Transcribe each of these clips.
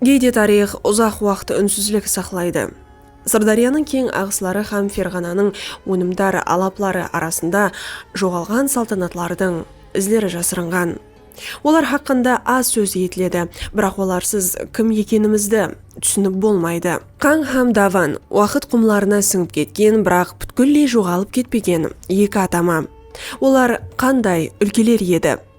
Geyde tariyx uzaq waqt únsizlik saqlaydı. Sırdáryanıń keń aǵısları hám Ferǵananıń ónimdar alapları arasında joǵalǵan saltanatlardıń izleri jasırınǵan. Olar haqqında az sóz etiledi, biraq olarsız kim ekenimizdi túsinip bolmaydı. Qań hám Davan, waqıt qumlarına sińip ketken, biraq pútkilley joǵalıp ketpegen eki atama. Olar qanday úlkeler edi?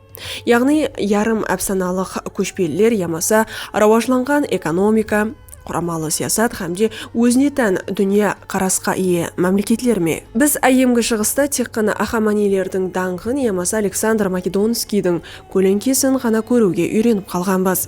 yaǵnıy yarım ápsanalıq kóshpeliler yamasa rawajlanǵan ekonomika, quramalı siyasat hám de ózine tán dúnya qarasqa iye mámleketler me? Biz Áyyemgi Shıǵısta tek ǵana Axamaniylerdiń dańǵın yamasa Aleksandr Makedonskiydiń kóleńkesin ǵana kóriwge úyrenip qalǵanbız.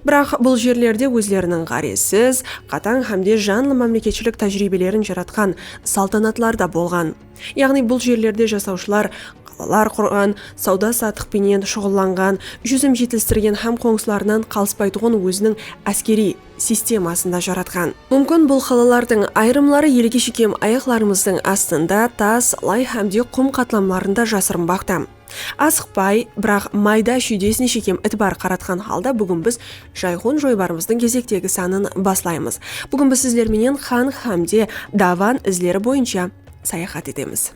Biraq bul jerlerde ózleriniń ǵárezsiz, qatań hám de janlı mámleketshilik tájiriybelerin jaratqan saltanatlar da bolǵan. Yaǵnıy bul jerlerde jasawshılar qalalar qurǵan, sawda-satıq penen shuǵıllanǵan, júzim jetilstirgen hám qońsılarınan qalıspaytuǵın óziniń áskeriy sistemasın da jaratqan. Múmkin bul qalalardıń ayırımları elge shekem ayaqlarımızdıń astında, tas, lay hámde qum qatlamlarında jasırınbaqta. Asıqpay, biraq mayda-shúydesine shekem itibar qaratqan halda búgin biz Jayxun joybarımızdıń gezektegi sanın baslaymız. Búgin biz sizler menen Xan xámde Davan izleri boyınsha sayaxat etemiz.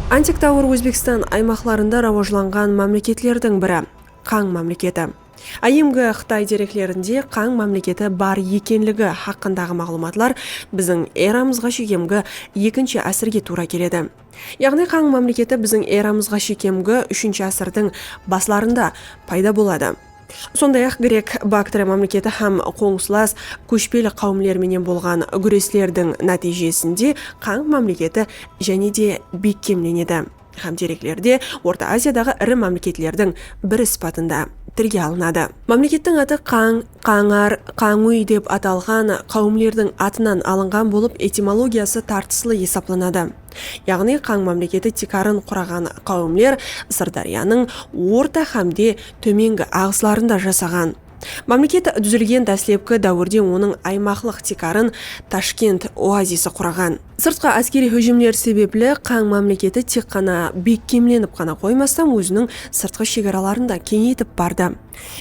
Antik dáwir Ózbekstan aymaqlarında rawajlanǵan mámleketlerdiń biri, Qań mámleketi. Áyyemgi Qıtay dereklerinde Qań mámleketi bar ekenligi haqqındaǵı maǵlıwmatlar biziń eramızǵa shekemgi ekinshi ásirge tuwra keledi. Yaǵnıy Qań mámleketi biziń eramızǵa shekemgi úshinshi ásirdiń baslarında payda boladı. Sonday-aq, Grek Baktriya mámleketi hám qońsılas kóshpeli qáwimler menen bolǵan gúreslerdiń nátiyjesinde Qańg mámleketi jáne de bekkemlenedi hám dereklerde Orta Aziyadaǵı iri mámleketlerdiń biri sıpatında tilge alınadı. Mámlekettiń atı Qańg, Qańar, Qańúy dep atalǵan qáwimlerdiń atınan alınǵan bolıp, etimologiyası tartıslı esaplanadı. yaǵnıy qań mámleketi tiykarın quraǵan qáwimler Sırdáryanıń orta hámde tómengi aǵıslarında jasaǵan. Mámleket dúzilgen dáslepki dáwirde onıń aymaqlıq tiykarın Tashkent oazisi quraǵan. Sırtqı áskeriy hújimler sebepli qań mámleketi tek ǵana bekkemlenip ǵana qoymastan óziniń sırtqı shegaraların da keńeytip bardı.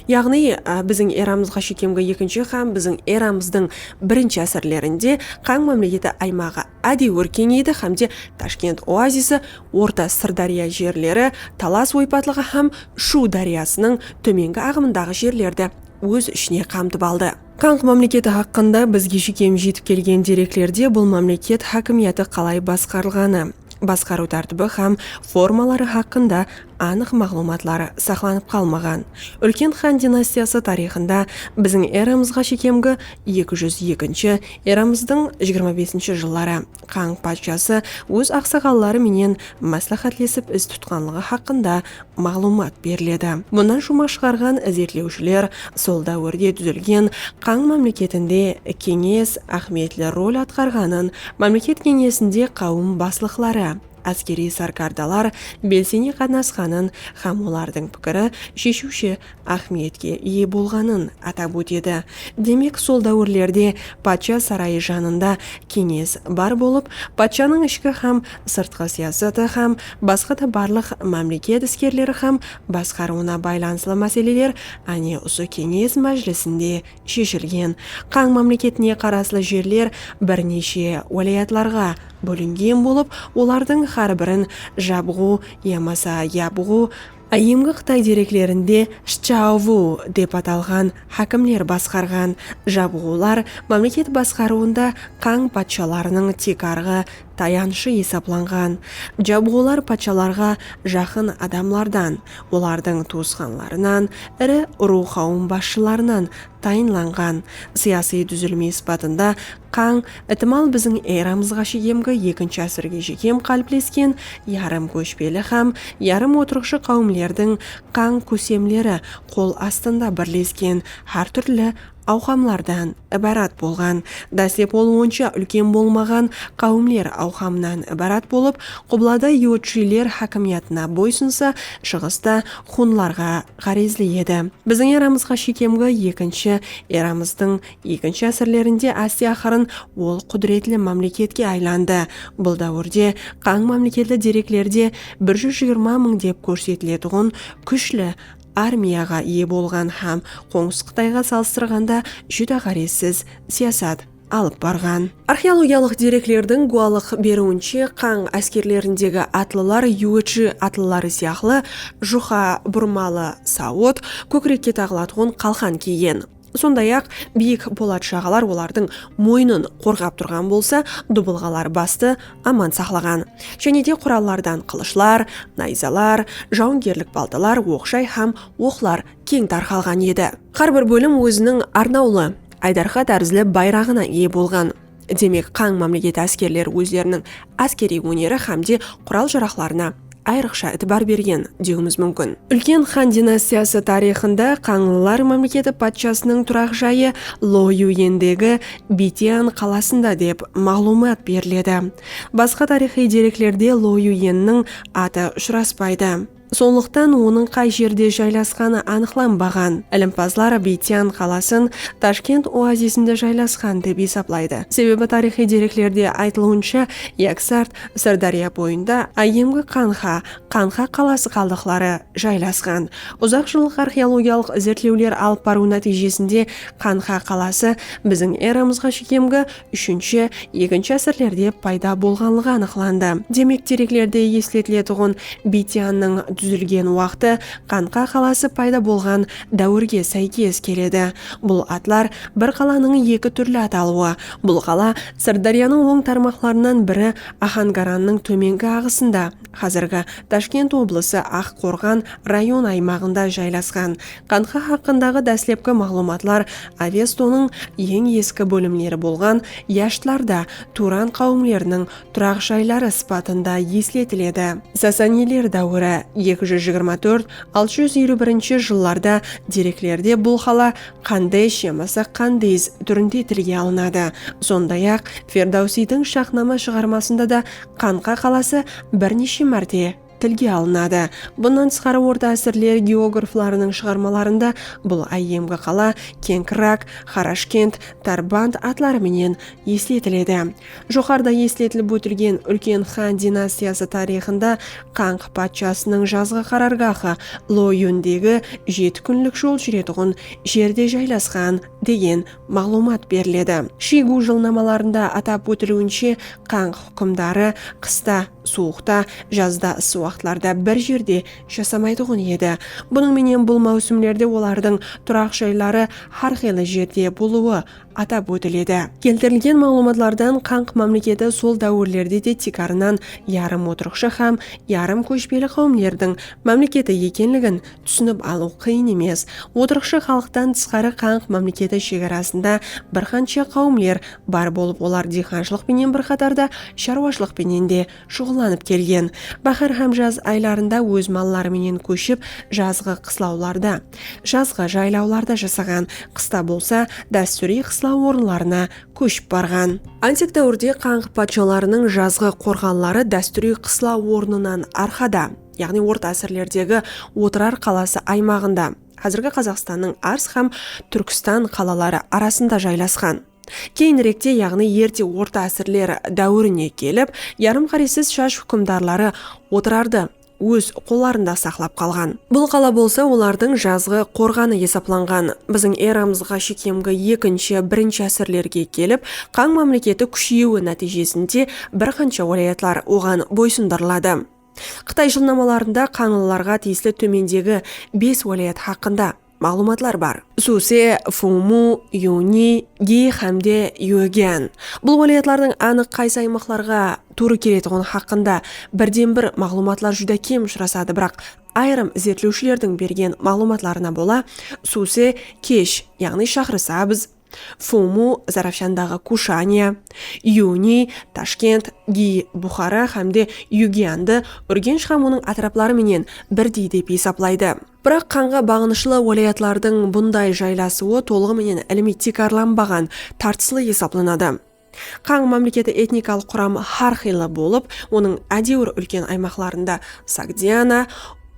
Yaǵnıy biziń eramızǵa shekemgi ekinshi hám biziń eramızdıń birinshi ásirlerinde qań mámleketi aymaǵı ádewir keńeydi hám de Tashkent oazisi, Orta Sırdárya jerleri, Talas oypatlıǵı hám Shu dáryasınıń tómengi aǵımındaǵı jerlerdi óz ishine qamtıp aldı. Qanq mámleketi haqqında bizge shekem jetip kelgen dereklerde bul mámleket hákimiyatı qalay basqarılǵanı, basqarıw tártibi hám formaları haqqında anıq maǵlıwmatları saqlanıp qalmaǵan. Úlken xan dinastiyası tariyxında biziń eramızǵa shekemgi eki júz ekinshi eramızdıń jigirma besinshi jılları Qańq patshası óz aqsaqalları menen másláhátlesip iz tutqanlıǵı haqqında maǵlıwmat beriledi. Bunnan shuma shıǵarǵan izertlewshiler sol dáwirde dúzilgen Qań mámleketinde keńes áhmiyetli rol atqarǵanın, mámleket keńesinde qáwim baslıqları, áskeriy sarkardalar belsene qatnasqanın hám olardıń pikiri sheshiwshi áhmiyetke iye bolǵanın atap ótedi. Demek, sol dáwirlerde patsha sarayı janında keńes bar bolıp, patshanıń ishki hám sırtqı siyasatı hám basqa da barlıq mámleket iskerleri hám basqarıwına baylanıslı máseleler áne usı keńes májilisinde sheshilgen. Qań mámleketine qaraslı jerler bir neshe wálayatlarǵa bólingen bolıp, olardıń hár birin Jabǵu yamasa Yabǵu, Áyyemgi qıtay dereklerinde Shchauvu dep atalǵan hákimler basqarǵan. Jabǵular mámleket basqarıwında qań patshalarınıń tiykarǵı tayanıshı esaplanǵan jabıǵılar patshalarǵa jaqın adamlardan, olardıń tuwısqanlarınan, iri urıw-qáwim basshılarınan tayınlanǵan sıyasıy dúzilme sıpatında qań itimal biziń eramızǵa sheyemgi ekinshi ásirge shekem qáliplesken yarım kóshpeli hám yarım otırıqshı qáwimlerdiń qań kósemleri qol astında birlesken hár túrli awqamlardan ibarat bolǵan, dáslep ol onsha úlken bolmaǵan qáwimler awqamınan ibarat bolıp, qublada yúwitshiyler hákimiyatına boysınsa, shıǵısta xunlarǵa ǵárezli edi. Biziń eramızǵa shekemgi ekinshi eramızdıń ekinshi ásirlerinde áste-aqırın ol qúdiretli mámleketke aylandı. Bul dáwirde qań mámleketli dereklerde bir júz jigirma mıń dep kórsetiletuǵın kúshli armiyaǵa iye bolǵan hám Qońsı Qıtayǵa salıstırǵanda júdá ǵárezsiz siyasat alıp barǵan. Arxeologiyalıq dereklerdiń gúwalıq beriwinshe, Qań áskerlerindegi atlılar yúwitshi atlıları sıyaqlı juqa burmalı sawıt, kókirekke taǵılatuǵın qalqan kiygen. Sonday-aq, biyik polat jaǵalar olardıń moynın qorǵap turǵan bolsa, dubılǵalar bastı aman saqlaǵan. Jáne de qurallardan qılıshlar, nayzalar, jawıngerlik baltalar, oq-jay hám oqlar keń tarqalǵan edi. Hár bir bólim óziniń arnawlı, aydarqa tárizli bayraǵına iye bolǵan. Demek, qań mámleketi áskerleri ózleriniń áskeriy óneri hámde qural-jaraqlarına ayrıqsha itibar bergen, dewiimiz múmkin. Úlken xan dinastiyası tariyxında qańlılar mámleketi patshasınıń turaq jayı Loyuendegi Bitian qalasında dep maǵlıwmat beriledi. Basqa tariyxıy dereklerde Loyuenniń atı ushıraspaydı. Sonlıqtan onıń qay jerde jaylasqanı anıqlanbaǵan. Ilimpazlar Biytyan qalasın Tashkent oazisinde jaylasqan dep esaplaydı. Sebebi tariyxıy dereklerde aytılıwınsha, Yaksart, Sırdárya boyında áyyemgi Qanxa, Qanxa qalası qaldıqları, jaylasqan. Uzaq jıllıq arxeologiyalıq izertlewler alıp barıw nátiyjesinde Qanxa qalası biziń eramızǵa shekemgi úshinshi, ekinshi ásirlerde payda bolǵanlıǵı anıqlandı. Demek, dereklerde esletiletuǵın Bitiannıń dúzilgen waqtı Qanqa qalası payda bolǵan dáwirge sáykes keledi. Bul atlar bir qalanıń eki túrli atalıwı. Bul qala Sırdáryanıń oń tarmaqlarınan biri Axangarannıń tómengi aǵısında, Házirgi Tashkent oblısı Aq Qorǵan rayon aymaǵında jaylasqan. Qandxa haqqındaǵı dáslepki maǵlıwmatlar Avestonıń eń eski bólimleri bolǵan Yashtlarda Turan qáwimleriniń turaq jayları sıpatında esletiledi. Sasaniler dáwiri, eki júz jigirma tórt, altı júz eliw birinshi jıllarda dereklerde bul qala Qandesh yamasa Qandiz túrinde tilge alınadı. Sonday-aq, Ferdawsiydiń Shahnama shıǵarmasında da Qańqa qalası bir neshe márte tilge alınadı. Bunnan tısqarı orta ásirler geograflarınıń shıǵarmalarında bul áyyemgi qala Kenkrak, Xarashkent, Tarband atları menen esletiledi. Joqarıda esletilip ótilgen úlken xan dinastiyası tariyxında Qańq patshasınıń jazǵı qarargahı Loyundegi jeti kúnlik jol júretuǵın jerde jaylasqan degen maǵlıwmat beriledi. Shiygu jılnamalarında atap ótiliwinshe, qań húkimdarı qısta suwıqta, jazda ıssı waqıtlarda bir jerde jasamaytuǵın edi. Bunıń menen bul máwsimlerde olardıń turaq jayları hár qıylı jerde bolıwı atap ótiledi. Keltirilgen maǵlıwmatlardan qań mámleketi sol dáwirlerde de tiykarınan yarım otırıqshı hám yarım kóshpeli qáwimlerdiń mámleketi ekenligin Túsinip alıw qıyın emes, otırıqshı xalıqtan tısqarı qanq mámleketi shegarasında bir qansha qáwimler bar bolıp olar diyxanshılıq penen bir qatarda sharwashılıq penen de shuǵıllanıp kelgen. Báxár hám jaz aylarında óz malları menen kóship jazǵı qıslawlarda, jazǵı jaylawlarda jasaǵan, qısta bolsa dástúriy qıslaw orınlarına kóship barǵan. Antik dáwirde qanq patshalarınıń jazǵı qorǵanları dástúriy qıslaw ornınan arqada. yaǵnıy orta ásirlerdegi Otırar qalası aymaǵında, házirgi Qazaqstannıń Ars hám Túrkstan qalaları arasında jaylasqan. Keyinrekte, yaǵnıy erte orta ásirler dáwirine kelip, yarım qáresiz Shaj húkimdarları Otırardı óz qollarında saqlap qalǵan. Bul qala bolsa olardıń jazǵı qorǵanı esaplanǵan. Biziń eramızǵa shekemgi ekinshi, birinshi ásirlerge kelip, Qań mámleketi kúsheyiwi nátiyjesinde bir qansha wálayatlar oǵan boysındırıladı. Qıtay jılnamalarında qańlılarǵa tiyisli tómendegi bes wálayat haqqında maǵlıwmatlar bar. Suse, Fumu, Yuni, Gi hám de Yuegian. Bul wálayatlardıń anıq qaysı aymaqlarǵa tuwrı keletuǵını haqqında birden-bir maǵlıwmatlar júdá kem ushırasadı, biraq ayırım izertlewshilerdiń bergen maǵlıwmatlarına bola Suse kesh, yaǵnıy Shaxrısabz, Fumu, Zarafshandaǵı Kushaniya, Yuni, Tashkent, Gi, Buxara hám de Yugiandı Úrgensh hám onıń átirapları menen birdey dep esaplaydı. Biraq qanǵa baǵınıshlı wálayatlardıń bunday jaylasıwı tolıǵı menen ilimiy tiykarlanbaǵan, tartıslı esaplanadı. Qańı mámleketi etnikalıq quramı hár qıylı bolıp, onıń ádewir úlken aymaqlarında Sogdiana,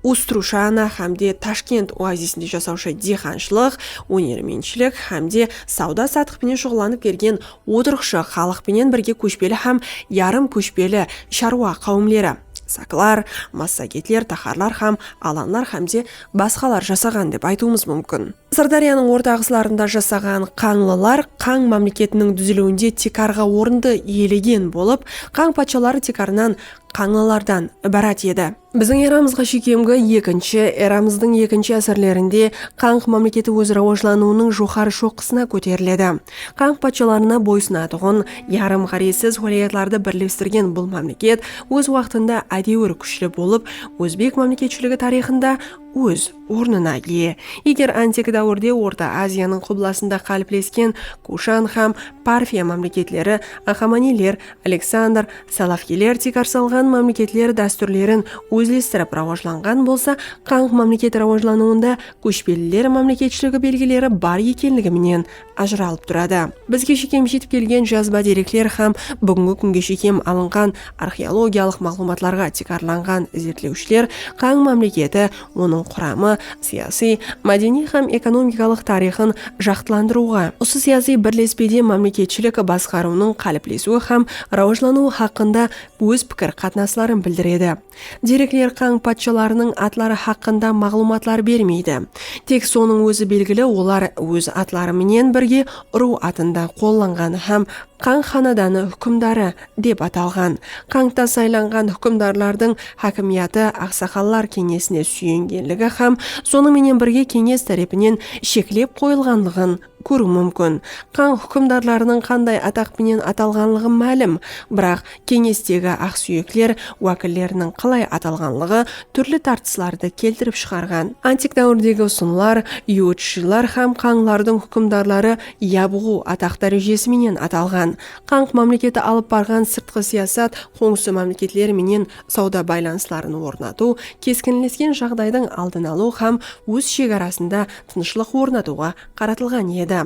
Ustrushana hám de Tashkent oazisinde jasawshı diyqanshılıq, ónermentshilik hám de sawda-satıq penen shuǵıllanıp kelgen otırıqshı xalıq penen birge kóshpeli hám yarım kóshpeli sharwa qáwimleri, saklar, massagetler, taxarlar hám alanlar hámde basqalar jasaǵan dep aytıwımız múmkin. Sırdáryanıń orta ǵıslarında jasaǵan qańlılar qań mámleketiniń dúziliwinde tiykarǵı orındı iyelegen bolıp, qań patshaları tiykarınan qańlılardan ibarat edi. Biziń eramızǵa sheykemgi ekinshi, eramızdıń ekinshi ásirlerinde qań mámleketi óz rawajlanıwınıń joqarı shoqqısına kóteriledi. Qań patshalarına boysınatuǵın, Yarım ǵárezsiz wálayatlardı birlestirgen bul mámleket óz waqtında ádewir kúshli bolıp, ózbek mámleketshiligi tariyxında óz ornına iye. Eger antik dáwirde Orta Aziyanıń qublasında qáliplesken Kushan hám Parfiya mámleketleri Axamaniyler, Aleksandr, Salafiyler tiykarsalǵan mámleketler dástúrlerin ózlestirip rawajlanǵan bolsa, Qanq mámleketi rawajlanıwında kóshpeliler mámleketshiligi belgileri bar ekenligi menen ajıralıp turadı. Bizge shekem jetip kelgen jazba derekler hám búgingi kúnge shekem alınǵan arxeologiyalıq maǵlıwmatlarǵa tiykarlanǵan izertlewshiler Qań mámleketi, onıń quramı, siyasiy, mádeniy hám ekonomikalıq tariyxın jaqtılandırıwǵa, usı siyasiy birlespede mámleketshilik basqarıwınıń qáliplesiwi hám rawajlanıwı haqqında óz pikir-qatnasların bildiredi. Derekler qań patshalarınıń atları haqqında maǵlıwmatlar bermeydi. Tek sonıń ózi belgili, olar óz atları menen birge urıw atında qollanǵan hám qań xanadanı húkimdarı dep atalǵan. Qańta saylanǵan húkimdarlardıń hákimiyatı aqsaqallar keńesine súyengenligi hám sonıń menen birge keńes tárepinen sheklep qoyılǵanlıǵın kóriw múmkin. Qań húkimdarlarınıń qanday ataq penen atalǵanlıǵı málim, biraq keńestegi aqsúyekler wákilleriniń qalay atalǵanlıǵı túrli tartıslardı keltirip shıǵarǵan. Antik dáwirdegi usınlar, yúwitshılar hám qańlardıń húkimdarları yabǵu ataq dárejesi menen atalǵan. Qań mámleketi alıp barǵan sırtqı siyasat, qońsı mámleketler menen sawda baylanısların ornatıw, keskinlesken jaǵdaydıń aldın alıw hám óz shegarasında tınıshlıq ornatıwǵa qaratılǵan edi.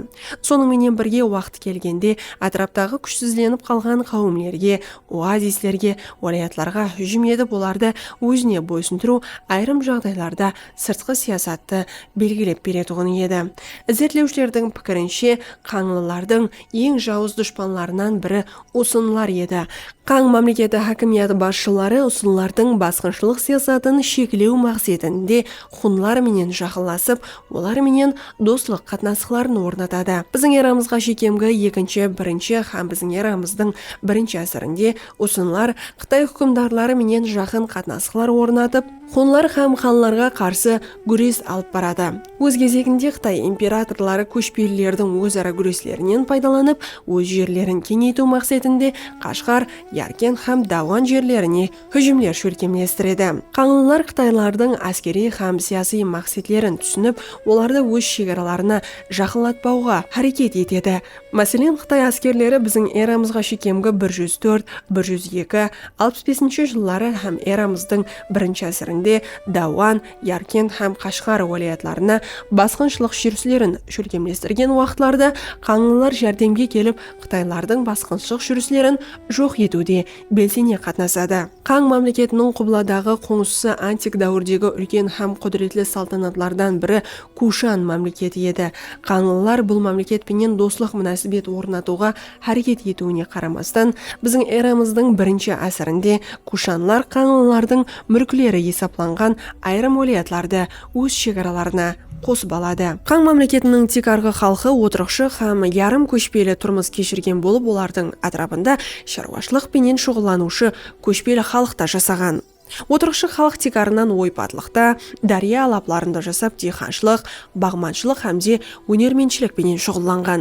Sonıń menen birge, waqıt kelgende átiraptaǵı kúshsizlenip qalǵan qáwimlerge, oazislerge, wálayatlarǵa hújim etip olardı ózine boysındırıw ayırım jaǵdaylarda sırtqı siyasattı belgilep beretuǵın edi. Izertlewshilerdiń pikirinshe, qańlılardıń eń jawız dushpanlarınan biri usınlar edi. Qań mámleketi hákimiyatı basshıları usınlardıń basqınshılıq siyasatın sheklew maqsetinde xunlar menen jaqınlasıp, olar menen doslıq qatnasıqların ornatadı. Biziń eramızǵa shekemgi ekinshi, birinshi hám biziń eramızdıń birinshi ásirinde usınlar Qıtay húkimdarları menen jaqın qatnasıqlar ornatıp, Xunlar hám xanlarǵa qarsı gúres alıp baradı. Óz gezeginde Qıtay imperatorları kóshpelilerdiń óz-ara gúreslerinen paydalanıp, óz jerlerin keńeytiw maqsetinde Qashǵar, Yarkent hám Dawan jerlerine hújimler shólkemlestiredi. Qańlılar qıtaylardıń áskeriy hám siyasiy maqsetlerin túsinip, olardı óz shegaralarına jaqınlatpawǵa háreket etedi. Máselen, Qıtay áskerleri biziń eramızǵa shekemgi bir júz tórt, bir júz eki, alpıs besinshi jılları hám eramızdıń birinshi ásirinde Dáwan, Yarkent hám Qashǵar wálayatlarına basqınshılıq júrislerin shólkemlestirgen waqıtlarıda qańlılar járdemge kelip Qıtaylardıń basqınshıq júrislerin joq etiwde belseńe qatnasadı. Qań mámleketiniń qubladaǵı qońsısı antik dáwirdegi úlken hám qúdiretli saltanatlardan biri Kushan mámleketi edi. Qańlılar bul mámleket penen doslıq múnásibet ornatıwǵa háreket etiwine qaramastan, biziń eramızdıń birinshi ásirinde Kushanlar qańlılardıń múlkleri esaplanǵan ayırım wálayatlardı óz shegaralarına qosıp aladı. Qań mámleketiniń tiykarǵı xalqı otırıqshı hám yarım kóshpeli turmıs keshirgen bolıp olardıń átirapında sharwashılıq penen shuǵıllanıwshı kóshpeli xalıq ta jasaǵan. Otırıqshı xalıq tiykarınan oypatlıqta, dárya alaplarında jasap diyxanshılıq, baǵmanshılıq hám de ónermentshilik penen shuǵıllanǵan.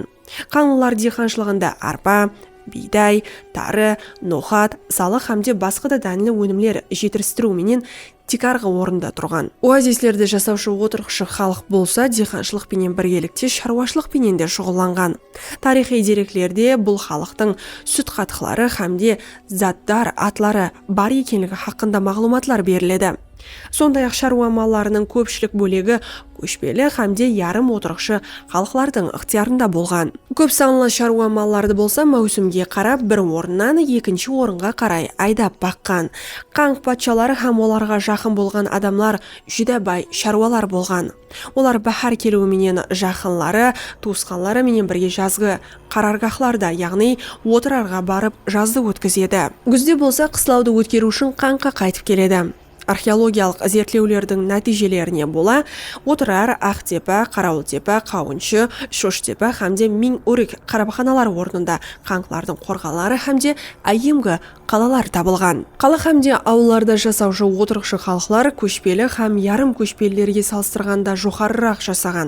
Qanlılar diyxanshılıǵında arpa, biyday, tarı, noxat, salıq hám de basqa da dánli ónimler jetiristiriw menen tiykarǵı orında turǵan. Oazislerde jasawshı otırǵıshı xalıq bolsa diyxanshılıq penen birgelikte sharwashılıq penen de shuǵıllanǵan. Tariyxıy dereklerde bul xalıqtıń sútqatıqları hám de zatdar atları bar ekenligi haqqında maǵlıwmatlar beriledi. Sonday-aq, sharwa mallarınıń kópshilik bólegi kóshpeli hámde yarım otırıqshı xalıqlardıń ıqtıyarında bolǵan. Kóp sanlı sharwa mallardı bolsa máwsimge qarap bir orınnan ekinshi orınǵa qaray aydap baqqan. Qanq patshaları hám olarǵa jaqın bolǵan adamlar júdá bay sharwalar bolǵan. Olar báhár keliwi menen jaqınları, tuwısqanları menen birge jazǵı Qarargahlarda, yaǵnıy, otırarǵa barıp jazdı ótkizedi. Gúzde bolsa qıslawdı ótkeriw ushın qańqa qaytıp keledi. Arxeologiyalıq izertlewlerdiń nátiyjelerine bola Otırar, Aqtepa, Qarawıltepa, Qawınshı, Shoshtepa hámde Miń órik qarabxanalar ornında qańqlardıń qorǵanları hámde áyyemgi qalalar tabılǵan. Qala hámde awıllarda jasawshı otırıqshı xalıqlar kóshpeli hám yarım kóshpelilerge salıstırǵanda joqarıraq jasaǵan.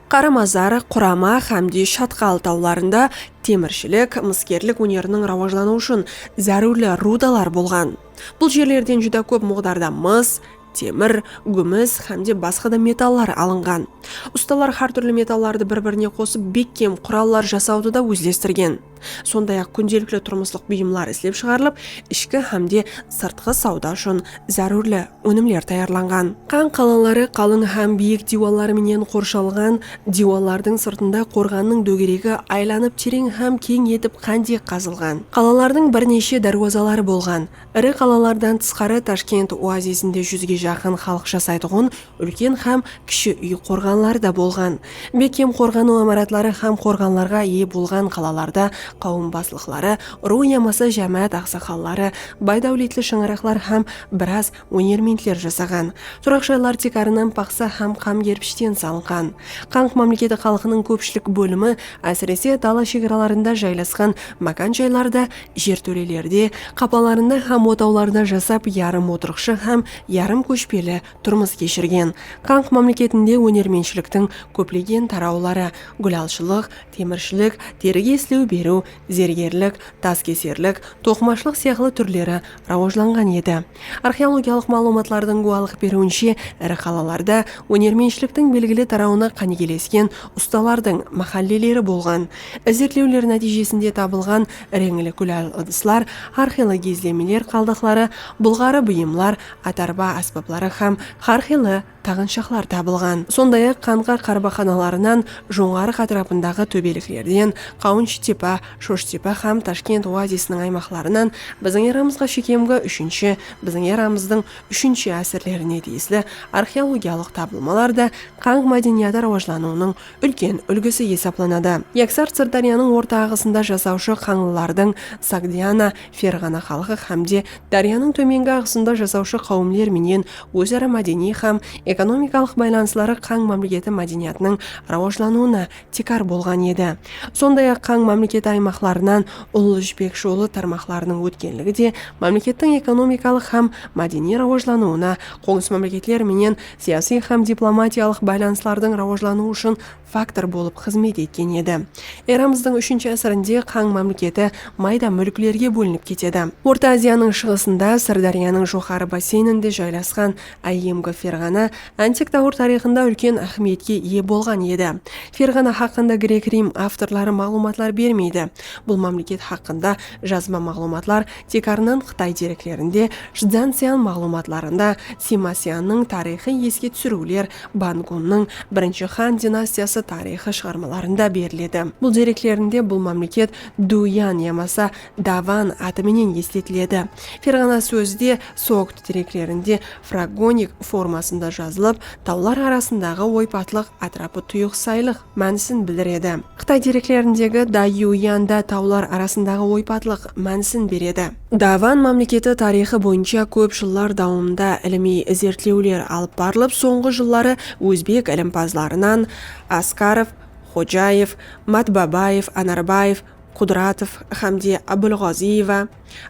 Qaramazar, Qurama hámde Shatqal tawlarında temirshilik, mıskerlik óneriniń rawajlanıwı ushın zárúrli rudalar bolǵan. Bul jerlerden júdá kóp muǵdarda mıs, temir, gúmis hámde basqa da metallar alınǵan. Ustalar hár túrli metallardı bir-birine qosıp bekkem qurallar jasawdı da ózlestirgen. Sonday-aq, kúndelikli turmıslıq buyımlar islep shıǵarılıp, ishki hám de sırtqı sawda ushın zárúrli ónimler tayarlanǵan. Qan qalaları qalıń hám biyik diywalları menen qorshalǵan, diywallardıń sırtında qorǵannıń dógeregi aylanıp tereń hám keń etip qándek qazılǵan. Qalalardıń bir neshe dárwazaları bolǵan. Iri qalalardan tısqarı Tashkent oazisinde júzge jaqın xalıq jasaytuǵın Úlken hám kishi úy qorǵanları da bolǵan. Bekkem qorǵanıw imaratları hám qorǵanlarǵa iye bolǵan qalalarda qáwim baslıqları, ruw yamasa jámáát aqsaqalları, bay-dáwletli shańaraqlar hám biraz ónermentler jasaǵan. Turaq jaylar tiykarınan paxsa hám qam kerpishten salınǵan. Qanq mámleketi xalqınıń kópshilik bólimi, ásirese, dala shegaralarında jaylasqan mákan jaylarda, jertólelerde, qapalarında hám otawlarda jasap yarım otırıqshı hám yarım kóshpeli turmıs keshirgen. Kanx mámleketinde ónermenshiliktiń kóplegen tarawları, gúlalshılıq, temirshilik, terige islew beriw, zergerlik, taskeserlik, toqımashılıq sıyaqlı túrleri rawajlanǵan edi. Arxeologiyalıq maǵlıwmatlardıń gúwalıq beriwinshe, iri qalalarda ónermenshiliktiń belgili tarawına qánigelesken ustalardıń máhálleleri bolǵan. Izertlewler nátiyjesinde tabılǵan reńli gúlal ıdıslar, arxeologiizlemeler qaldıqları, bulǵarı buyımlar, atarba ásbapları hám hár qıylı taǵınshaqlar tabılǵan. Sonday-aq, Qanqa qarbaxanalarınan, Jońǵarıq átirapındaǵı tóbeliklerden, Qawınshıtepa, Shoshtepa hám Tashkent oazisiniń aymaqlarınan biziń eramızǵa shekemgi úshinshi, biziń eramızdıń úshinshi ásirlerine tiyisli arxeologiyalıq tabılmalar da qanq mádeniyatı rawajlanıwınıń úlken úlgisi esaplanadı. Yaksart Sırdáryanıń orta aǵısında jasawshı qańlılardıń, Sogdiana, Ferǵana xalqı hám de dáryanıń tómengi aǵısında jasawshı qáwimler menen óz-ara mádeniy hám ekonomikalıq baylanısları Qań mámleketi mádeniyatınıń rawajlanıwına tiykar bolǵan edi. Sonday-aq, Qań mámleketi aymaqlarınan Ullı jipek jolı tarmaqlarınıń ótkenligi de mámlekettiń ekonomikalıq hám mádeniy rawajlanıwına qońsı mámleketler menen siyasiy hám diplomatiyalıq baylanıslardıń rawajlanıwı ushın faktor bolıp xızmet etken edi. Eramızdıń úshinshi ásirinde Qań mámleketi mayda múlklerge bólinip ketedi. Orta Aziyanıń shıǵısında, Sırdáryanıń joqarı basseyninde jaylasqan áyyemgi Ferǵana antik dáwir tariyxında úlken áhmiyetke iye bolǵan edi. Ferǵana haqqında grek-rim avtorları maǵlıwmatlar bermeydi. Bul mámleket haqqında jazba maǵlıwmatlar Tiykarınan Qıtay dereklerinde, Chzansian maǵlıwmatlarında Sima Siannıń tariyxıy eske túsiriwler, Ban Gunnıń Birinshi xan dinastiyası tariyxı shıǵarmalarında beriledi. Bul dereklerinde bul mámleket Dúyan yamasa Davan atı menen esletiledi. Ferǵana sózi de Sogt dereklerinde fragonik formasında jazılıp, tawlar arasındaǵı oypatlıq, átirapı tuyıq saylıq, mánisin bildiredi. Qıtay dereklerindegi Daiyuanda tawlar arasındaǵı oypatlıq mánisin beredi. Davan mámleketi tariyxı boyınsha kóp jıllar dawamında ilimiy izertlewler alıp barılıp, sońǵı jılları ózbek ilimpazlarınan Askarov, Xojaev, Matbabaev, Anarbaev, Qudratov hámde Abulǵazıyeva,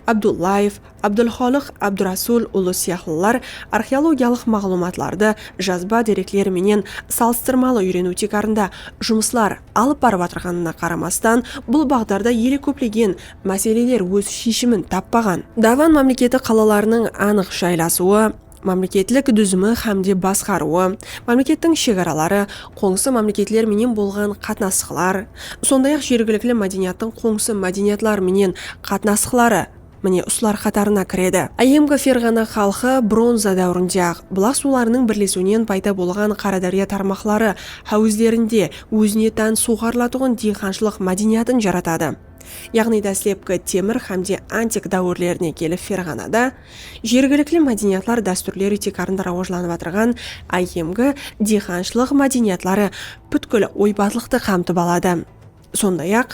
Abdullaev, Abdulxolıq Abdurasul ulı sıyaqlılar arxeologiyalıq maǵlıwmatlardı jazba derekler menen salıstırmalı úyreniw tiykarında jumıslar alıp barıp atırǵanına qaramastan, bul baǵdarda ele kóplegen máseleler óz sheshimin tappaǵan. Davan mámleketi qalalarınıń anıq jaylasıwı, mámleketlik dúzimi hámde basqarıwı, mámlekettiń shegaraları, qońsı mámleketler menen bolǵan qatnasıqlar, sonday-aq jergilikli mádeniyattıń qońsı mádeniyatlar menen qatnasıqları, mine usılar qatarına kiredi. Áyyemgi Ferǵana xalqı bronza dáwirinde-aq bulaq suwlarınıń birlesiwinen payda bolǵan Qaradárya tarmaqları háwizlerinde ózine tán suwǵarılatuǵın diyqanshılıq mádeniyatın jaratadı. Yaǵnıy dáslepki temir hámde antik dáwirlerine kelip Ferǵanada, Jergilikli mádeniyatlar dástúrleri tiykarında rawajlanıp atırǵan áyyemgi diyxanshılıq mádeniyatları pútkil oybazlıqtı qamtıp aladı. Sonday-aq,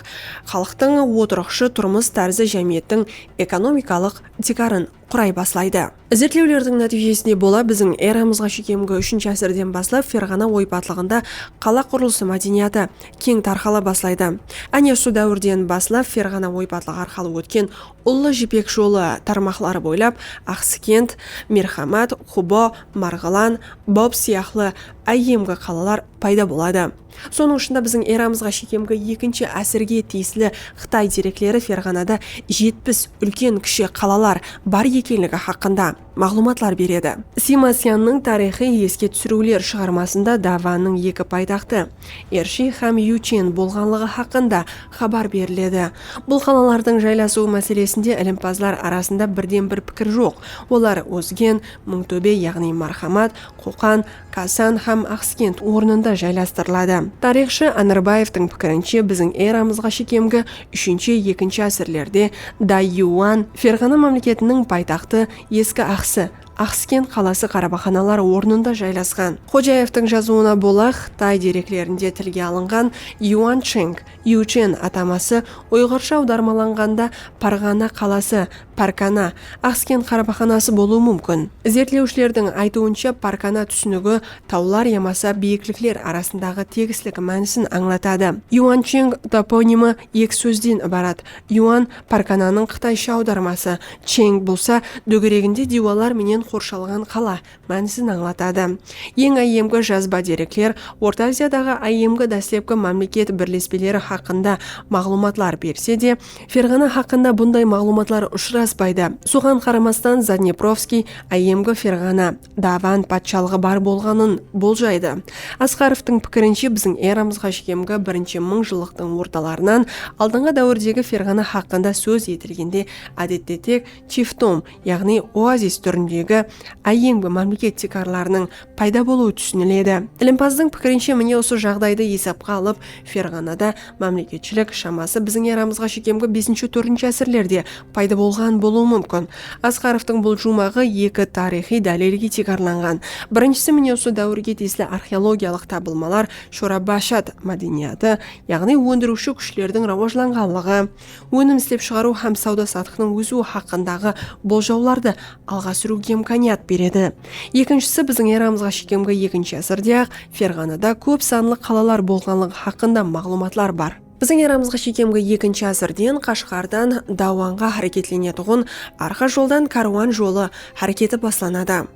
xalıqtıń otırıqshı turmıs tárzi jámiyettiń ekonomikalıq tiykarın quray baslaydı. Izertlewlerdiń nátiyjesine bola biziń eramızǵa shekemgi úshinshi ásirden baslap Ferǵana oypatlıǵında qala qurılısı mádeniyatı keń tarqala baslaydı. Áne usı dáwirden baslap Ferǵana oypatlıǵı arqalı ótken Ullı jipek jolı tarmaqları boylap Aqsıkent, Merxamat, Qubo, Marǵılan, Bob sıyaqlı áyyemgi qalalar payda boladı. Sonıń ushında biziń eramızǵa shekemgi ekinshi ásirge tiyisli Qıtay derekleri Ferǵanada jetpis úlken-kishi qalalar bar ekenligi haqqında. maǵlıwmatlar beredi. Simasyanniń tariyxı eske túsiriwler shıǵarmasında dáwaniń eki paytaxtı, Ershi hám Yuchen, bolǵanlıǵı haqqında xabar beriledi. Bul qalalardıń jaylasıwı máselesinde ilimpazlar arasında birden-bir pikir joq, olar Ózgen, Mıńtóbe yaǵnıy Marhamat, Qoqan, Kasan hám Aqskent ornında jaylastırıladı. Tariyxshı Anarbaevtıń pikirinshe biziń eramızǵa shekemgi úshinshi-ekinshi ásirlerde Dayuan, Ferǵana mámleketiniń paytaxtı, eski Aqsı, Aqskent qalası qarabaxanalar ornında jaylasqan. Xojaevtıń jazıwına bola Qıtay dereklerinde tilge alınǵan Yuancheng, Yuchen, ataması uyǵırsha awdarmalanǵanda Parǵana qalası, Parkana, Axskent qarabaqanası bolıwı múmkin. Izertlewshilerdiń aytıwınsha, parkana túsinigi tawlar yamasa biyiklikler arasındaǵı tegislik mánisin ańlatadı. Yuancheng toponimi eki sózden ibarat, yuan, parkananıń qıtaysha awdarması, cheng bolsa, dógereginde diywalar menen qorshalǵan qala, mánisin ańlatadı. Eń áyyemgi jazba derekler Orta Aziyadaǵı áyyemgi dáslepki mámleket birlespeleri haqqında maǵlıwmatlar berse de, Ferǵana haqqında bunday maǵlıwmatlar ushıraspaydı. Soǵan qaramastan, Zadneprovskiy áyyemgi Ferǵana, Davan, patshalıǵı bar bolǵanın boljaydı. Asqarovtıń pikirinshe, biziń eramızǵa sheyemgi birinshi mıń jıllıqtıń ortalarınan aldınǵı dáwirdegi Ferǵana haqqında sóz etilgende, ádette tek Tiftom, yaǵnıy oazis túrindegi áyyemgi mámleket tiykarlarınıń payda bolıwı túsiniledi. Ilimpazdıń pikirinshe, mine usı jaǵdaydı esapqa alıp, Ferǵanada mámleketshilik, shaması biziń eramızǵa shekemgi besinshi-tórinshi ásirlerde payda bolǵan bolıwı múmkin. Asqarovtıń bul juwmaǵı eki tariyxıy dálilge tiykarlanǵan. Birinshisi, mine usı dáwirge tiyisli arxeologiyalıq tabılmalar, Shorabashad mádeniyatı, yaǵnıy óndiriwshi kúshlerdiń rawajlanǵanlıǵı. Ónim islep shıǵarıw hám sawda-satıqtıń ósiwi haqqındaǵı boljawlardı alǵa súriwge imkaniyat beredi. Ekinshisi biziń eramızǵa shekemgi ekinshi ásirde-aq Ferǵanada kóp sanlı qalalar bolǵanlıǵı haqqında maǵlıwmatlar bar. Biziń eramızǵa shekemgi ekinshi ásirden Qashǵardan Dawanǵa háreketlenetuǵın arqa joldan kárwan jolı háreketi baslanadı.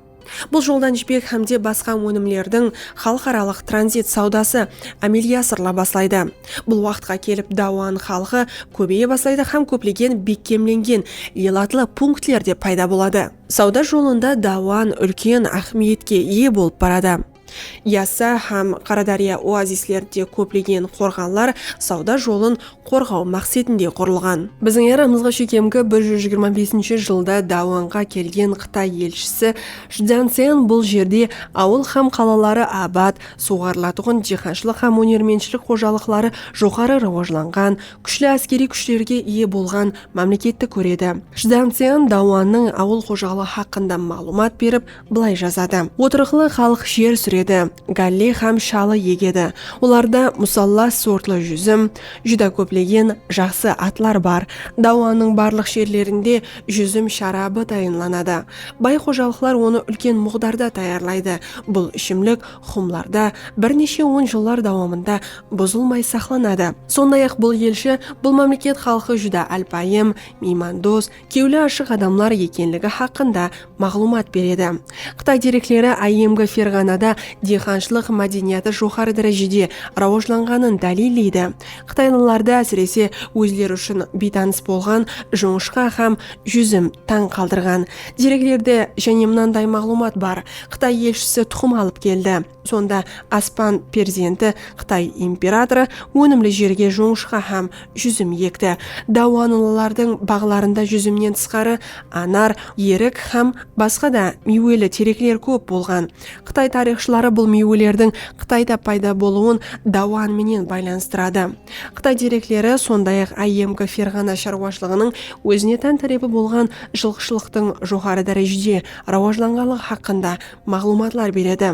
Bul joldan jipek hámde basqa ónimlerdiń xalıqaralıq tranzit sawdası ámelge asırıla baslaydı. Bul waqıtqa kelip Dauan xalqı kóbeye baslaydı hám kóplegen bekkemlengen elatlı punktler de payda boladı. Sawda jolında Dauan úlken áhmiyetke iye bolıp baradı. Yassa hám Qaradárya oazislerinde kóplegen qorǵanlar sawda jolın qorǵaw maqsetinde qurılǵan. Biziń eramızǵa shekemgi bir júz jigirma besinshi jılda dáwanǵa kelgen Qıtay elshisi Shdzyansen bul jerde awıl hám qalaları abat, suwǵarılatuǵın diyqanshılıq hám ónermentshilik xojalıqları joqarı rawajlanǵan, kúshli áskeriy kúshlerge iye bolǵan mámleketti kóredi. Shdzyansen dáwannıń awıl xojalıǵı haqqında maǵlıwmat berip, Bılay jazadı. Otırıqlı xalıq jer súredi, gálle hám shalı egedi. Olarda musallas sortlı júzim, júdá kóplegen jaqsı atlar bar. Dáwanıń barlıq jerlerinde júzim sharabı tayınlanadı. Bay xojalıqlar onı úlken muǵdarda tayarlaydı. Bul ishimlik xumlarda bir neshe on jıllar dawamında buzılmay saqlanadı. Sonday-aq, bul elshi, bul mámleket xalqı júdá álpayım, miymandos, kewli ashıq adamlar ekenligi haqqında maǵlıwmat beredi. Qıtay derekleri áyyemgi Ferǵanada diyqanshılıq mádeniyatı joqarı dárejede rawajlanǵanın dálilleydi. Qıtaylılardı ásirese ózleri ushın biytanıs bolǵan jońishqa hám júzim tań qaldırǵan. Dereklerde jáne mınanday maǵlıwmat bar, Qıtay elshisi tuqım alıp keldi. Sonda Aspan perzenti, Qıtay imperatorı, ónimli jerge jońıshqa hám júzim ekti. Dauanlılardıń baǵlarında júzimnen tısqarı anar, erik hám basqa da miyweli terekler kóp bolǵan. Qıtay tariyxshıları bul miywelerdiń Qıtayda payda bolıwın dauan menen baylanıstıradı. Qıtay derekleri sonday-aq áyyemgi Ferǵana sharwashılıǵınıń ózine tán tárepi bolǵan jılqıshılıqtıń joqarı dárejede rawajlanǵanlıǵı haqqında maǵlıwmatlar beredi.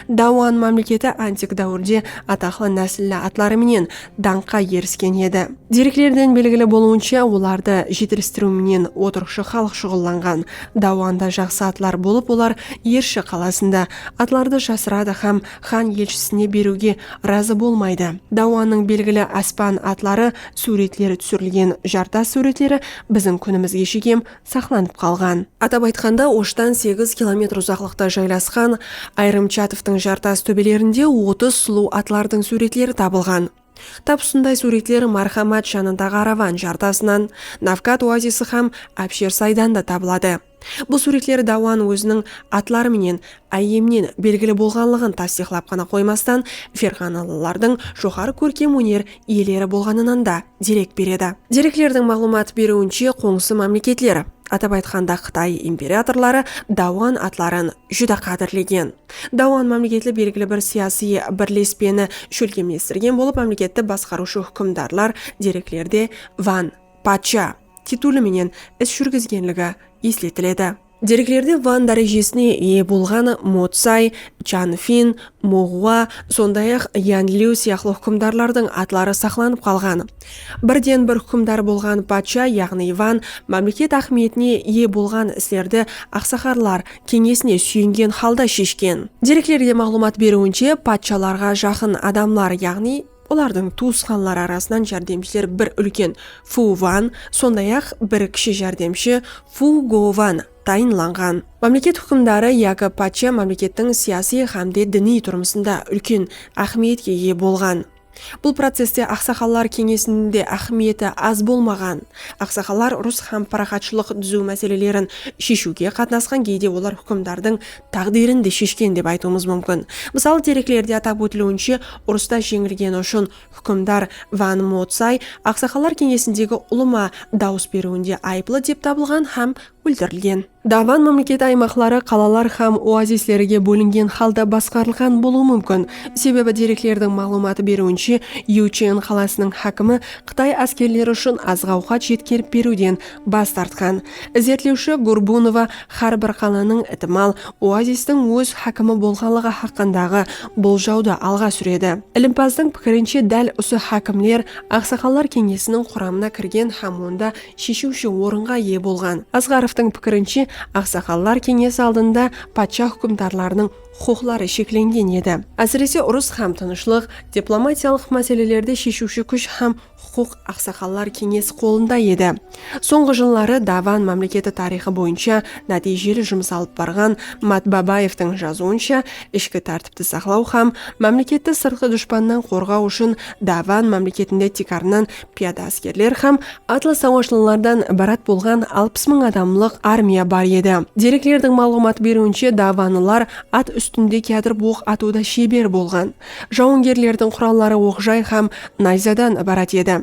Dauan mámleketi antik dáwirde ataqlı násilli atları menen dańqqa erisken edi. Dereklerden belgili bolıwınsha, olardı jetilistiriw menen otırıqshı xalıq shuǵıllanǵan. Dauanda jaqsı atlar bolıp, olar Ershi qalasında atlardı jasıradı hám xan elshisine beriwge razı bolmaydı. Dauannıń belgili aspan atları súwretleri túsirilgen jartas súwretleri biziń kúnimizge shekem saqlanıp qalǵan. Atap aytqanda, Oshtan segiz kilometr uzaqlıqta jaylasqan ayırım chatovtıń jartas tóbelerinde otız sulıw atlardıń súwretleri tabılǵan. Tap usınday súwretler Marhamat janındaǵı Aravan jartasınan, Navkat oazisi hám Abshersaydan da tabıladı. Bul súwretler Dauan óziniń atları menen áyyemnen belgili bolǵanlıǵın tastıyıqlap ǵana qoymastan, ferǵanalılardıń joqarı kórkem óner iyeleri bolǵanınanda derek beredi. Dereklerdiń maǵlıwmat beriwinshe, qońsı mámleketler, atap aytqanda Qıtay imperatorları Dauan atların júdá qádirlegen. Dauan mámleketli belgili bir siyasıy birlespeni shólkemlestirgen bolıp, mámleketti basqarıwshı húkimdarlar dereklerde Wan, patsha, tituli menen is júrgizgenligi esletiledi. Dereklerde Van dárejesine iye bolǵan Mo Tsay, Chan Fin, Mo Ǵua, sonday-aq Yan Liu sıyaqlı húkimdarlardıń atları saqlanıp qalǵan. Birden-bir húkimdar bolǵan patsha, yaǵnıy Van, mámleket áhmiyetine iye bolǵan islerdi aqsakarlar keńesine súyengen halda sheshken. Dereklerde maǵlıwmat beriwinshe, patshalarǵa jaqın adamlar, yaǵnıy. Olardıń tuwısqanları arasınan járdemshiler bir úlken Fu Wan, sonday-aq, bir kishi járdemshi Fu Go Wan tayınlanǵan. Mámleket húkimdarı yaki patsha mámlekettiń siyasiy hámde diniy turmısında úlken áhmiyetke iye bolǵan. Bul processte aqsaqallar keńesiniń de áhmiyeti az bolmaǵan. Aqsaqallar urıs hám paraxatshılıq dúziw máselelerin sheshiwge qatnasqan geyde olar húkimdardıń táǵdiyrin de sheshken dep aytıwımız múmkin. Mısalı dereklerde atap ótiliwinshe, urısta jeńilgeni ushın húkimdar Van Motsay Aqsaqallar keńesindegi ulıwma dawıs beriwinde ayıplı dep tabılǵan hám óltirilgen. Davan mámleketi aymaqları qalalar hám oazislerige bólingen halda basqarılǵan bolıwı múmkin, sebebi dereklerdiń maǵlıwmatı beriwinshe, Yúchen qalasınıń hákimi qıtay áskerleri ushın azıq-awqat jetkerip beriwden bas tartqan. Izertlewshi Gurbunova Hár bir qalanıń itimal oazistiń óz hákimi bolǵanlıǵı haqqındaǵı boljawdı alǵa súredi. Ilimpazdıń pikirinshe dál usı hákimler Aqsaqallar keńesiniń quramına kirgen hám onda sheshiwshi orınǵa iye bolǵan. Asǵarovtıń pikirinshe Aqsaqallar keńesi aldında patsha húkimdarlarınıń huqıqları sheklengen edi. Ásirese urıs hám tınıshlıq, diplomatiyalıq máselelerde sheshiwshi kúsh hám Huqıq aqsaqallar keńesi qolında edi. Sońǵı jılları Davan mámleketi tariyxı boyınsha nátiyjeli jumıs alıp barǵan Mat Babaevtıń jazıwınsha, ishki tártipti saqlaw hám mámleketti sırtqı dushpannan qorǵaw ushın Davan mámleketinde tiykarınan piyada áskerler hám atlı sawashlılardan ibarat bolǵan alpıs mıń adamlıq armiya bar edi. Dereklerdiń maǵlıwmat beriwinshe, davanlılar at ústinde kiyatırıp oq atıwda sheber bolǵan. Jawıngerlerdiń quralları oq-jay hám nayzadan ibarat edi.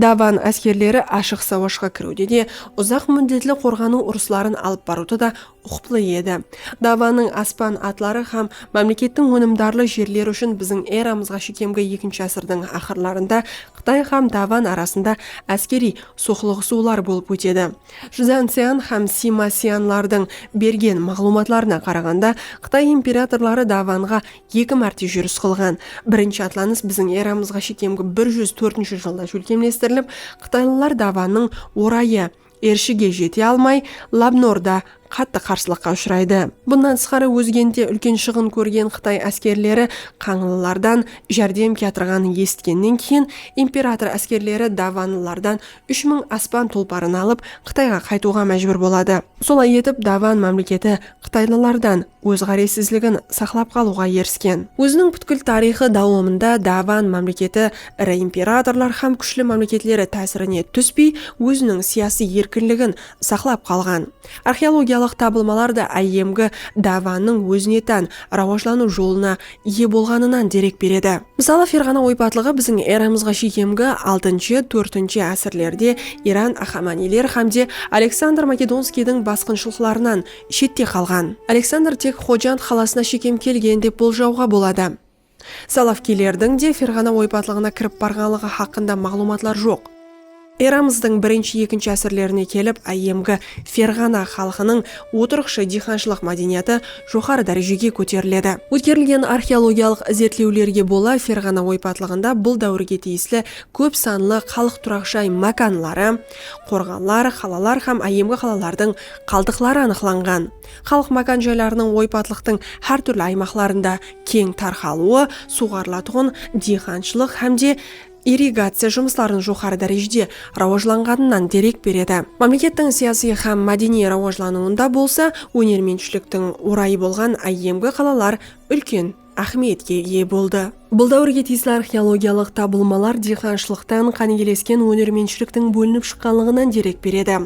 Davan áskerleri ashıq sawashqa kiriwde de, uzaq múddetli qorǵanıw urısların alıp barıwda da uqıplı edi. Davannıń aspan atları hám mámlekettiń ónimdarlı jerleri ushın biziń eramızǵa shekemgi ekinshi ásirdiń aqırlarında Qıtay hám Davan arasında áskeriy soqlıǵısıwlar bolıp ótedi. Chzantsyan hám Sima-syanlardıń bergen maǵlıwmatlarına qaraǵanda, Qıtay imperatorları Davanǵa Eki márte júris qılǵan birinshi atlanıs biziń eramızǵa shekemgi bir júz tórtinshi jılda shólkemlestirilip, qıtaylılar davanıń orayı, Ershige jete almay, Labnorda qattı qarsılıqqa ushıraydı. Bunnan tısqarı Ózgent'te úlken shıǵın kórgen qıtay áskerleri qańlılardan járdem kiyatırǵanın esitkennen keyin imperator áskerleri davanlılardan úsh mıń aspan tulparın alıp, Qıtayǵa qaytıwǵa májbúr boladı. Solay etip, davan mámleketi qıtaylılardan óz ǵárezsizligin saqlap qalıwǵa erisken. Óziniń pútkil tariyxı dawamında Davan mámleketi iri imperatorlar hám kúshli mámleketleri tásirine túspey, óziniń siyasiy erkinligin saqlap qalǵan. Arxeologiyalıq tabılmalar da áyyemgi Davannıń ózine tán rawajlanıw jolına iye bolǵanınan derek beredi. Mısalı, Ferǵana oypatlıǵı biziń eramızǵa shekemgi altınshı, tórtinshi ásirlerde Iran Axamaniyler hám de Aleksandr Makedonskiydiń basqınshılıqlarınan, shette qalǵan. Aleksandr tek Xojand qalasına shekem kelgen dep boljawǵa boladı. Salavkiylerdiń de Ferǵana oypatlıǵına kirip barǵanlıǵı haqqında maǵlıwmatlar joq. Eramızdıń birinshi-ekinshi ásirlerine kelip áyyemgi Ferǵana xalqınıń otırıqshı diyxanshılıq mádeniyatı joqarı dárejege kóteriledi. Ótkerilgen arxeologiyalıq izertlewlerge bola Ferǵana oypatlıǵında bul dáwirge tiyisli kóp sanlı xalıq turaq jay mákanları, qorǵanlar, qalalar hám áyyemgi qalalardıń qaldıqları anıqlanǵan. Xalıq mákan joylarınıń oypatlıqtıń hár túrli aymaqlarında keń tarqalıwı suwǵarılatuǵın diyxanshılıq hám de irrigaciya jumıslarınıń joqarı dárejede rawajlanǵanınan derek beredi. Mámlekettiń siyasiy hám mádeniy rawajlanıwında bolsa ónermentshiliktiń orayı bolǵan áyyemgi qalalar úlken. áhmiyetke iye boldı. Bul dáwirge tiyisli arxeologiyalıq tabılmalar diyqanshılıqtan qánigelesken ónermentshiliktiń bólinip shıqqanlıǵınan derek beredi.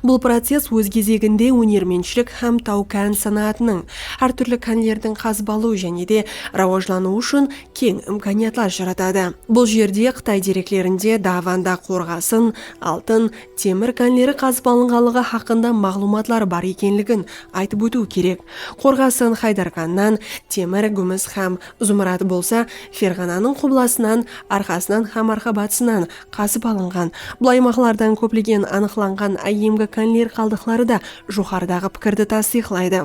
Bul process óz gezeginde ónermentshilik hám taw-kán sanaatınıń, hár túrli kánlerdiń qazıbalıw jáne de rawajlanıwı ushın keń imkaniyatlar jaratadı. Bul jerde Qıtay dereklerinde Davanda qorǵasın, altın, temir kánleri qazıp alınǵanlıǵı haqqında maǵlıwmatlar bar ekenligin aytıp ótiw kerek. Qorǵasın Haydarxannan temir, gúmis hám zumrad bolsa Ferǵananıń qublasınan, arqasınan hám arqa-batısınan qazıp alınǵan. Bul aymaqlardan kóplegen anıqlanǵan áyyemgi kánler qaldıqları da joqarıdaǵı pikirdi tastıyıqlaydı.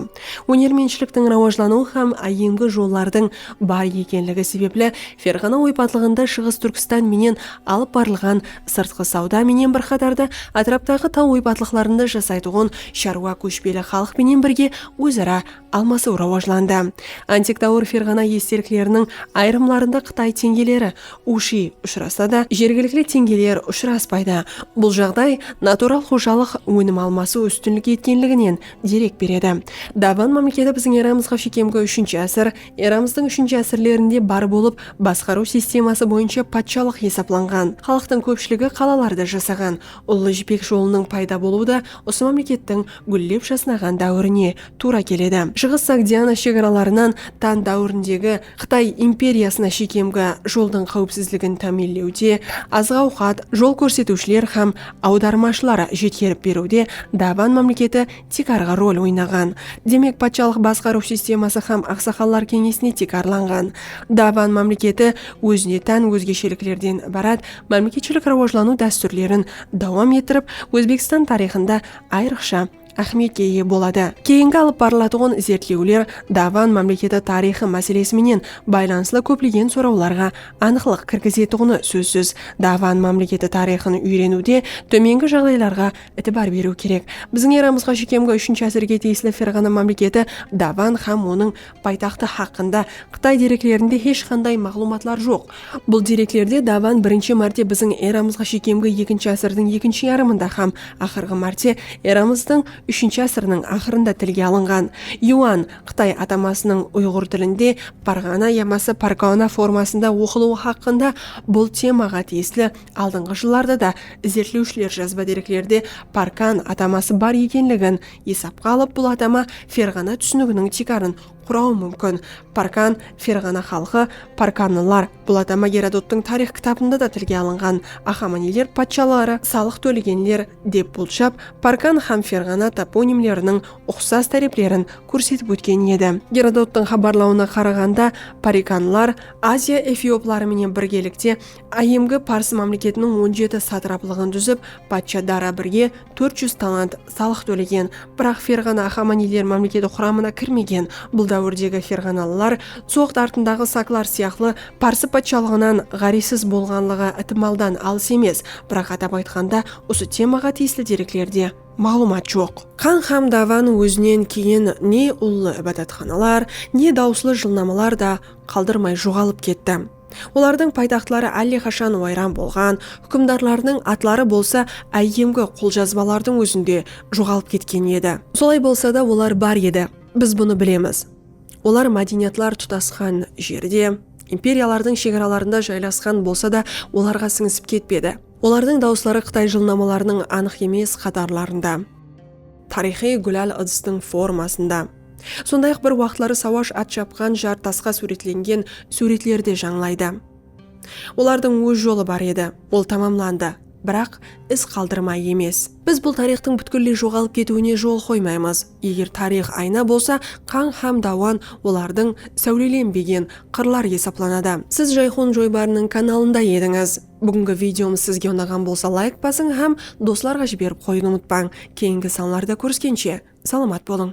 Ónermentshiliktiń rawajlanıwı hám áyyemgi jollardıń bar ekenligi sebepli Ferǵana oypatlıǵında Shıǵıs Túrkstan menen alıp barılǵan sırtqı sawda menen bir qatarda átiraptaǵı taw oypatlıqlarında jasaytuǵın sharwa kóshpeli xalıq penen birge óz-ara almasıw rawajlandı. Antik dáwir ferǵana estelikleriniń ayırımlarında qıtay teńgeleri, ushi, ushırasa da, jergilikli teńgeler ushıraspaydı. Bul jaǵday natural xojalıq ónim almasıw ústinlik etkenliginen derek beredi. Daban mámleketi biziń eramızǵa shekem ge úshinshi ásir Eramızdıń úshinshi ásirlerinde bar bolıp, basqarıw sisteması boyınsha patshalıq esaplanǵan. Xalıqtıń kópshiligi qalalarda jasaǵan. Ullı Jipek jolınıń payda bolıwı da usı mámlekettiń gúllep jasnaǵan dáwirine tuwra keledi. Shıǵıs Sogdiana shegaralarınan Tan dáwirindegi Qıtay imperiyasına shekemgi joldıń qáwipsizligin támiyinlewde, azıq-awqat, jol kórsetiwshiler hám awdarmashılar jetkerip beriwde Daban mámleketi tiykarǵı rol oynaǵan. Demek, patshalıq basqarıw sisteması hám aqsaqallar keńesine tiykarlanǵan. Daban mámleketi ózine tán ózgesheliklerden ibarat mámleketshilik rawajlanıw dástúrlerin dawam ettirip, Ózbekstan tariyxında ayrıqsha áhmiyetke iye boladı. Keyingi alıp barılatuǵın izertlewler Daban mámleketi tariyxı máselesi menen baylanıslı kóplegen sorawlarǵa anıqlıq kirgizetuǵını sózsiz. Daban mámleketi tariyxın úyreniwde tómengi jaǵdaylarǵa Itibar beriw kerek. Biziń eramızǵa shekemgi úshinshi ásirge tiyisli Ferǵana mámleketi Davan hám onıń paytaxtı haqqında qıtay dereklerinde hesh qanday maǵlıwmatlar joq. Bul dereklerde Davan birinshi márte biziń eramızǵa shekemgi ekinshi ásirdiń ekinshi yarımında hám aqırǵı márte eramızdıń úshinshi ásiriniń aqırında tilge alınǵan. Yuan, qıtay atamasınıń uyǵır tilinde Parǵana yamasa Pargana formasında oqılıwı haqqında bul temaǵa tiyisli Aldınǵı jıllarda da izertlewshiler jazba dereklerde Parkan ataması bar ekenligin esapqa alıp bul atama Ferǵana túsiniginiń tiykarın qurawı múmkin. Parkan, Ferǵana xalqı, Parkanlılar. Bul atama Gerodottıń tariyx kitabında da tilge alınǵan. Axamaniler patshaları salıq tólegenler dep bolshap Parkan hám Ferǵana toponimleriniń uqsas táreplerin kórsetip ótken edi. Gerodottıń xabarlawına qaraǵanda Parikanlar Aziya efiopları menen birgelikte Áyemgi Parsı mámleketiniń on jeti satraplıǵın dúzip, patsha Dara Birge tórt júz talant salıq tólegen. Biraq Ferǵana Ahamaniyler mámleketi quramına kirmegen. Bul dáwirdegi ferǵanalılar Tsoq dartındaǵı saklar sıyaqlı Parsı patshalıǵınan ǵárezsiz bolǵanlıǵı itimaldan alıs emes. Biraq atap aytqanda usı temaǵa tiyisli dereklerde maǵlıwmat joq. Qan hám dawanı ózinen keyin ne ullı ibadatxanalar, ne dawıslı jılnamalar da qaldırmay joǵalıp ketti. Olardıń paytaxtları álleqashan wayran bolǵan, húkimdarlarınıń atları bolsa áyyemgi qoljazbalardıń ózinde joǵalıp ketken edi. Solay bolsa da olar bar edi, biz bunı bilemiz. Olar mádeniyatlar tutasqan jerde, imperiyalardıń shegaralarında jaylasqan bolsa da, olarǵa sińisip ketpedi. Olardıń dawısları Qıtay jılnamalarınıń anıq emes qatarlarında. Tariyxıy gúlal ıdıstıń formasında. Sonday-aq bir waqıtları sawash at japqan jar tasqa súwretlengen súwretler de jańlaydı. Olardıń óz jolı bar edi, ol tamamlandı, biraq iz qaldırmay emes. Biz bul tariyxtıń pútkilley joǵalıp ketiwine jol qoymaymız. Eger tariyx ayna bolsa, qań hám dawan olardıń sáwlelenbegen qırlar esaplanadı. Siz Jayxun joybarınıń kanalında edińiz. Búgingi videomız sizge unaǵan bolsa layk basıń hám doslarǵa jiberip qoyıwdı umıtpań. Keyingi sanlarda kóriskenshe, salamat bolıń!